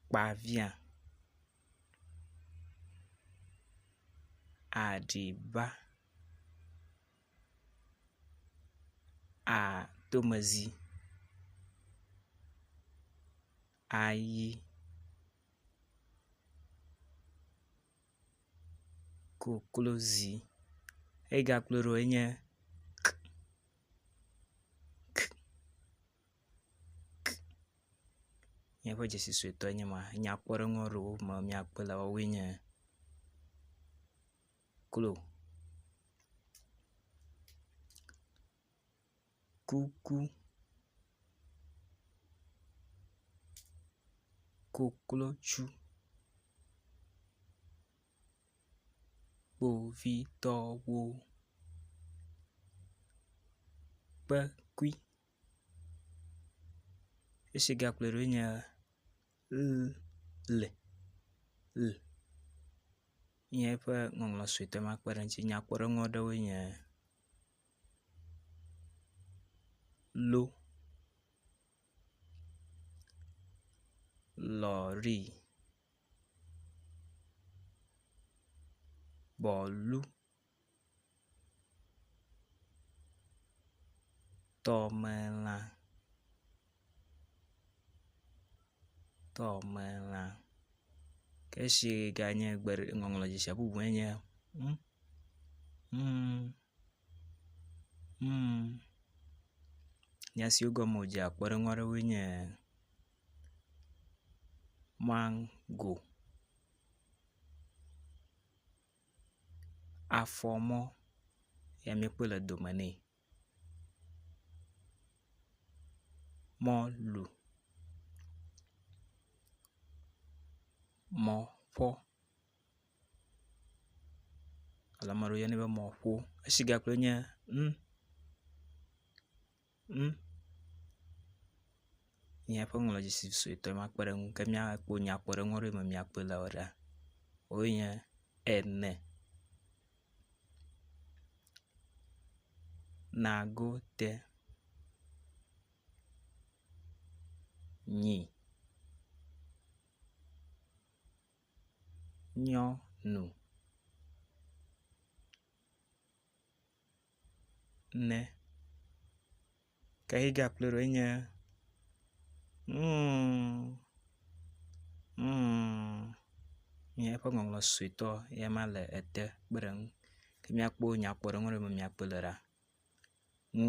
kpa via aɖiba atomezi ayi koklozi eyi gakplɔe ɖo enye k. k, k, míaƒe dzesi suetɔe nye ma. Nyakpɔɖeŋu aɖewo me míakpe le woawoe nye klo, kuku, koklotsu. kpovitɔwo ƒe kpukpui esi gakplɔe ɖo nye ʋl ʋl nye eƒe ŋɔŋlɔ suetɔ ma kpe ɖe eŋutsi. Nyakpɔɖeŋu aɖewoe nye lo. lɔri, bɔlu, tɔmelã, tɔmelã ke esi ganye ŋɔŋlɔ dzi sia bubu enye ŋu, ŋu. Humm, nya siwo gɔme wòdzea kpɔɖeŋu aɖewoe nye maŋgo, afɔmɔ ye míekpɔe le dome nɛ, mɔlu, mɔƒɔ. Ale ame aɖewo yɔnɛ be mɔ̃ƒo. Esigakpe nye ŋ, ŋ, míaƒe ŋlɔdzisi suetɔ ma kpe ɖe eŋu ke míakpɔ nyakpɔɖeŋu aɖe me míakpɔe le ewɔ ɖa. Wowoe nye ene, nagote, nyi. nyɔ nu ne ke yike aƒle ɖo enye ŋuuŋuuŋ nye eƒe ŋɔŋlɔ suetɔ ye ma le ete kpeɖeŋu ke miakpɔ nyakpɔɖeŋu ɖe me miakpɔe le ɖa ŋu.